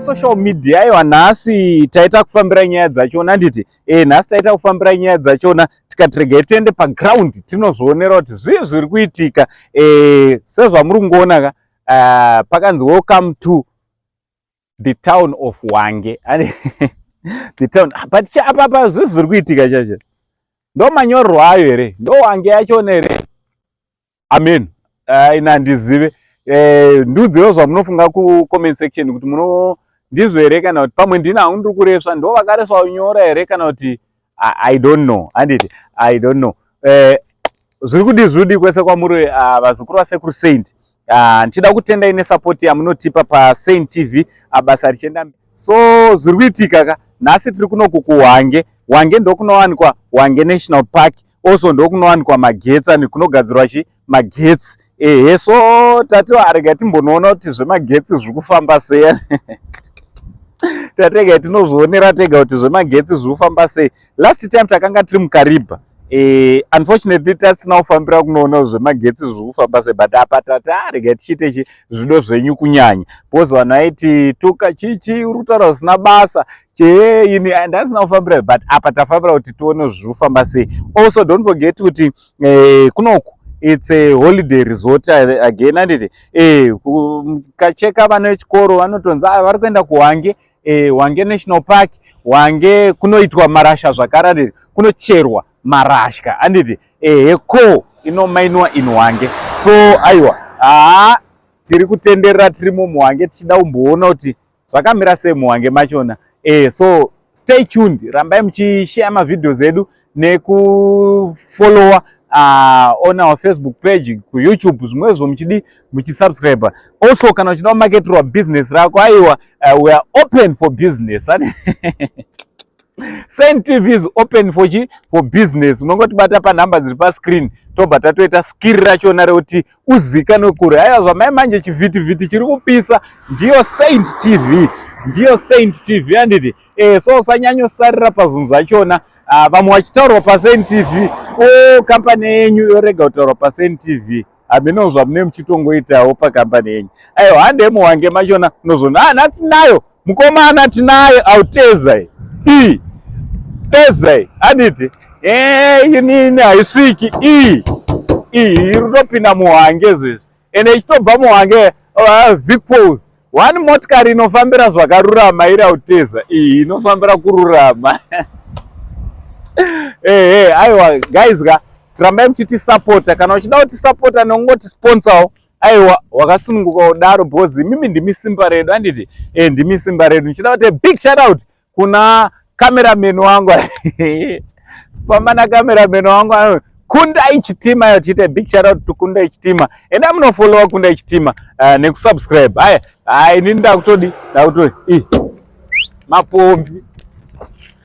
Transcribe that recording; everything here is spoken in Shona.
social media iwa nhasi taita kufambira nyaya dzachona handiti e nhasi taita kufambira nyaya dzachona tikati regai tiende paground tinozvionera kuti zvii zviri kuitika e, sezvamuri kungoona ka uh, pakanzi welcome to the town of wange the town ah, but apapa zvinhu zviri kuitika chacho ndo manyorerwo ayo here ndo wange yachona here amen ah, ina ndizive eh, ndiudziwo zvamunofunga kucomment section kuti muno ndizvo here kana kuti pamwe ndina hangu ndiri kuresva ndo vakareswa unyora here kana kuti I, i don't know handiti i don't know eh, zviri kudii zviri kudii kwese kwamuri uh, vazukuru vasekuru saint uh, ndichida kutendai nesapoti yamunotipa pasaint tv abasa ah, richienda so zviri kuitika ka nhasi tiri kunokukuwange wange ndokunowanikwa wange national park also ndokunowanikwa magetsa nekunogadzirwa chii magetsi ehe so tati arega timbonoona kuti zvemagetsi zviri kufamba sei tatega tinozvionera tega kuti zvemagetsi zviri kufamba sei last time takanga tiri mukariba e, unfortunately tasina kufambira kunoona zvemagetsi zviri kufamba sei but apa tati arega tichiite chi zvido zvenyu kunyanya because vanhu vaiti tuka chichi uri kutaura zvisina basa chee ini ndasina kufambira but apa tafambira kuti tione zviri kufamba sei also don't forget kuti eh, kunoku it's a holiday resort again anditi eh, kacheka vana vechikoro vanotonzi ah, vari kuenda kuwange eh, wange national park wange kunoitwa marasha zvakare anditi kunocherwa marasha anditi ehe ko inomainiwa in wange so aiwa haa tiri kutenderera tiri mumuwange tichida kumboona kuti zvakamira sei muhwange machona eh, so stay tuned rambai muchishare mavideos edu nekufollowa uh, on our facebook page kuyoutube zvimwezvo muchidi muchisubscribe also kana uchida kumaketerwa business rako aiwa uh, weare open for business saint tv is open for chi for business unongotibata panhamba dziri pascreen tobva tatoita skiri rachona rekuti uzikanwe kure haya zvamai manje chivhiti vhiti chiri kupisa ndiyo saint tv ndiyo saint tv handiti eh so usanyanyosarira pazvinhu zvachona ah, vamwe vachitaurwa pasaint tv o oh, kampani yenyu yorega kutaurwa pasaint tv hameno zvamune muchitongoitawo pakambani yenyu aiwa handemu wange machona unozona ah nhasi nayo Mukomana tinaye autezai i tezai handiti inini haisviki i iyi irutopinda muhange izvezvi ende ichitobva muhange uh, vicpos one motikari inofambira zvakarurama iri auteza iyi inofambira kururama ehe aiwa guys ka tirambai muchitisapota kana uchida kutisapota nekungotisponsor aiwa wakasununguka kudaro because imimi ndimi simba redu anditi e ndimi simba redu ndichida kuti big shout out kuna cameraman wangu famba na cameraman wangu kunda ichitima yo tiite big shout out to kunda ichitima enda munofollowa kunda ichitima uh, eh, nekusubscribe haya hayi nini ndakutodi ndakutodi i mapombi